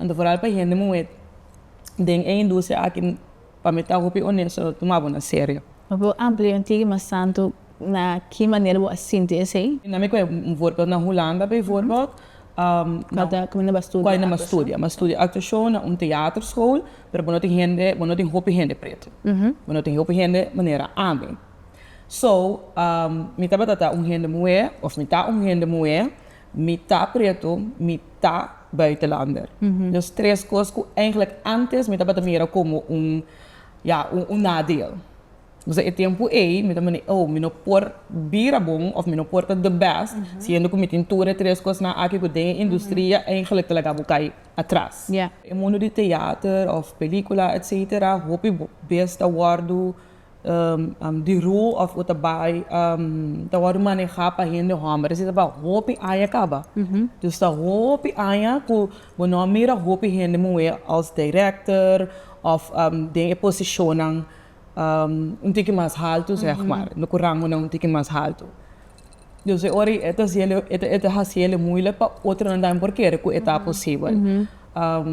Anto foral pa hende muhé den e industria aki pa mi ta hopi onesto lo tuma bo na serio. Mi por amplia un tiki mas tantu na ki manera bo a sinti esei? Na mi koe un voorbeeld na Hulanda bijvoorbeeld. Kua ta kua nan ba studia actuacion? Kua nan ba studia? Nan studia actuacion na un teaterschool, pero bo no tin hende, bo no tin hopi hende pretu. Bo no tin hopi hende manera ami. So, mi tabata ta un hende muhé, of mi ta un hende muhé, Mi ta preto, mi ta buitenlander. Nos tres cos cu eigenlijk antes mi tabata mira como un, ja, un, un nadeel. Dus na e tempo ey mi ta mandi, oh, mi no por bira bon of mi no por ta the best siendo cu mi tin tur e tres cosnan aki cu den e industria eigenlijk ta laga bo cay atras. E mundo di theater of pelicula etcetera hopi bes ta wordo di roo of u ta bai ta wòrdu maneha pa hende hòmber esei ta bai hopi aña kaba dus ta hopi aña ku bo no a mira hopi hende muhé als direkter of den e posishonnan un tiki mas haltu sèg ma ku rangunan un tiki mas haltu dus e ora e ta hasiel e ta hasiel e muilek pa otronan tambe por kere ku e ta posibel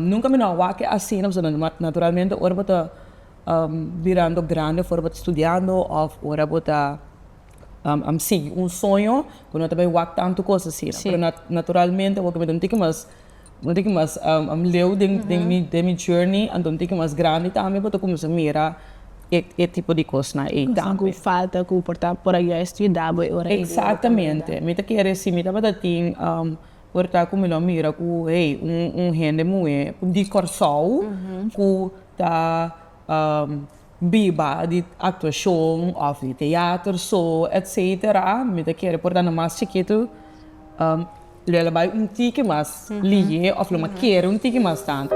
nunka mi no a wak e asina pasobra naturalmente ora bo ta. Birando grandi for bo ta studiando of ora bo ta sigui un soño bo no ta bay wak tanto cos asina pero naturalmente awor cu mi ta un tiki mas un tiki mas leu den mi journey anto un tiki mas grandi tambe bo ta cuminsa mira e tipo di cosnan ey tambe. Cosnan cu falta cu por ta por a yoi a estudia dabo e ora ey. Exactamente mi ta kere si mi tabata tin Por ta cu mi lo mira cu hey un hende muhe di Corsou cu ta biba di actuacion of di theater so etcetera mi ta kere por dando mas chikitu lo a bay un tiki mas lihe of lo a kere un tiki mas tanto.